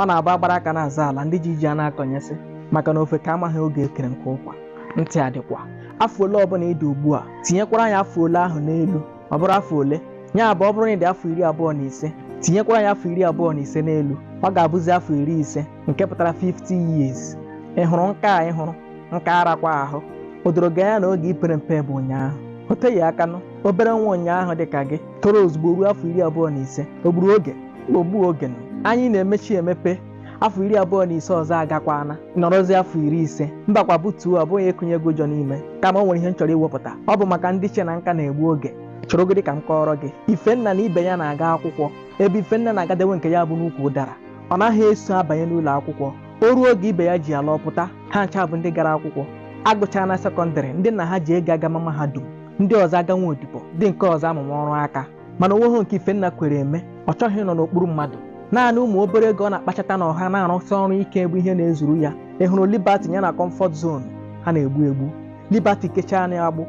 ọ na-abụ agbara aka na-azọ ala ndị ji ji ana-akọnyesị maka na ofeke amaghị oge e kere nkụ ụkwa ntị adịkwa afọ ole ọbụla ị dị ugbu a tinyekwara ya afọ ole ahụ n'elu ọ bụrụ afọ ole ya bụ ọ bụrụ na ị dị afọ iri abụọ na ise tinyekwara ya afọ iri abụọ na ise n'elu ọ ga-abụzi afọ iri ise nke pụtara 50 years ị hụrụ nka a ị hụrụ nka arakwa ahụ o doro gị anya na oge i pere mpe bụ ụnyaahụ o teghị aka nụ obere nwa ụnyaahụ dị ka gị toro ozugbo ruo afọ iri abụọ na ise o gburu oge ma o gbuo oge nụ. anya na-emechi emepe afọ iri abụọ na ise ọzọ agakwana nọrọzi afọ iri ise mbakwa butuo ọ bụghị ịkụnye gị ụjọ n'ime kama o nwere ihe m chọrọ iwepụta ọ bụ maka ndị che na nka na-egbu oge cheregodi ka m kọọrọ gị ifenna na ibe ya na-aga akwụkwọ ebe ifenna na-agadewe nke ya bụ n'ukwu ụdara ọ naghị eso abanye n'ụlọ akwụkwọ o ruo oge ibe ya ji ala ọ pụta ha ncha bụ ndị gara akwụkwọ agụchaa na sekọndịrị ndị nna ha ji ego agama mahadum ndị ọzọ aga nwa odibo ndị nke ọzọ amụma ọrụ aka mana onweghị nke ifenna kwere eme ọ chọghị ịnọ n'okpuru mmadụ naanị ụmụ obere ego ọ na-akpachata na ọha na-arụsị ọrụ ike bụ ihe na-ezuru ya ị hụrụ liberty ya na comfort zone ha na-egbu egbu liberty kechaa n'agbụ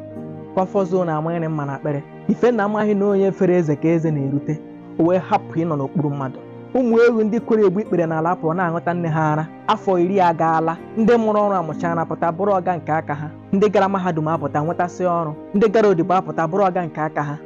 comfort zone amanyere mma n'akpịrị ifenna amaghị na onye fere eze ka eze na-erute o wee hapụ ịnọ n'okpuru mmadụ ụmụ ewu ndị kwere egbu ikpere n'ala pụọ na-aṅụta nne ha ara afọ iri agaala ndị mụrụ ọrụ amụchara pụta bụrụ ọga nke aka ha ndị gara mahadum apụta nwetasị ọrụ ndị gara odibo apụta bụrụ ọga nke aka ha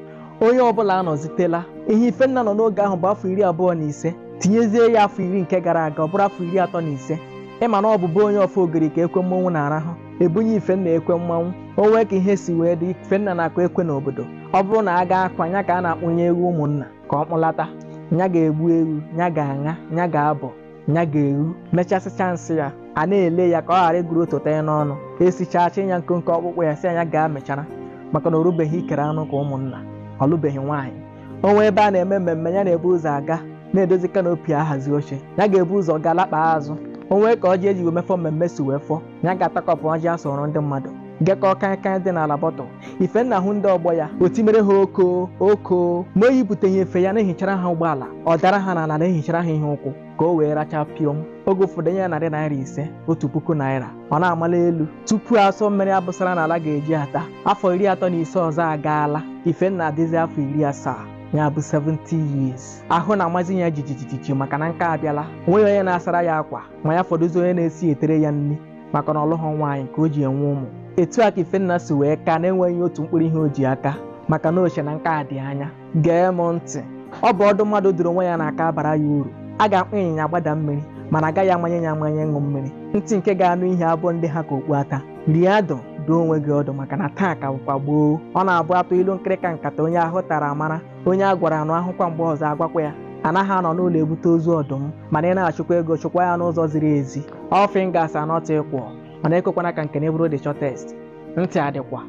onye ọbụla anọzitela ihe ifenna nọ n'oge ahụ bụ afọ iri abụọ na ise tinyezie ya afọ iri nke gara aga ọ bụrụ afọ iri atọ na ise ị ma na ọ bụbu onye ọfọ ogiri ka ekwe mmanwụ na-arahụ e bunye ifenna ekwe mmanwụ o nwee ka ihe si wee dị ifenna na-akụ ekwe n'obodo ọ bụrụ na a gaa akwa nya ka a na-akpụnye ewu ụmụnna ka ọ kpụlata nya ga-egbu ewu nya ga-aṅa nya ga-abọ nya ga-eru mechasịcha nsị ya a na-ele ya ka ọ ghara ịgụrụ otu taa ya n'ọnụ e sichaa chịị ya nkonko ọkpụkpụ ya sị nya gaa mịchara maka na o rubeghị ikere anụ ka ụmụnna ọ lụbeghị nwaanyị o nwee ebe a na-eme mmemme ya na-ebu ụzọ aga na-edozi kanopi ahazi oche ya ga-ebu ụzọ gaa lakpaa azụ o nwee ka ọjị e ji wee mefọ mmemme si wee fọ ya ga-atakọpụ ọjị a sọrọ ndị mmadụ gekọọ kaịkaị dị n'ala bọtụl ifenna hụ ndị ọgbọ ya o timere ha oko oko ma o yipụtaghị efe ya na-ehichara ha ụgbọala ọ dara ha n'ala na-ehichara ha ihe ụkwụ ka o wee racha pịọm oge ụfọdụ e nye ya narị naira ise otu puku naira ọ na-amala elu tupu asọ mmiri a bụsara n'ala ga-eji ata afọ iri atọ na ise ọzọ agaala ifenna adịzi afọ iri asaa ya bụ 70 years ahụ na-amazi ya jijijiji maka na nka abịala onweghị onye na-asara ya akwa ma ya fọdụzi onye na-esi etere ya nri maka na ọ lụghị nwaanyị ka o ji enwe ụmụ etu a ka ifenna si wee ka na-enweghị otu mkpụrụ ihe o ji aka maka na o che na nka dị anya gee m ntị ọ bụ ọdụ mmadụ dụrụ onwe ya na-aka abara ya uru a ga-akpọ ịnyịnya gbada mmiri mana agaghị amanye ya amanye ịṅụ mmiri ntị nke ga-anụ ihe abụghị ndị ha ka okpu ata rie adụ dụọ onwe gị ọdụ maka na taa ka bụkwa gboo ọ na-abụ a tụọ ilu nkịrịka nkata onye ahụ tara amara onye a gwara anụ a hụkwa mgbe ọzọ a gwakwa ya anaghị anọ n'ụlọ ebute ozu ọdụm mana ị na-achụkwa ego chụkwa ya n'ụzọ ziri ezi All fingers are not equal, mana ekwekwana ka nke gị bụrụ the shortest. Ntị adịkwa.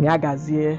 Ya gazie.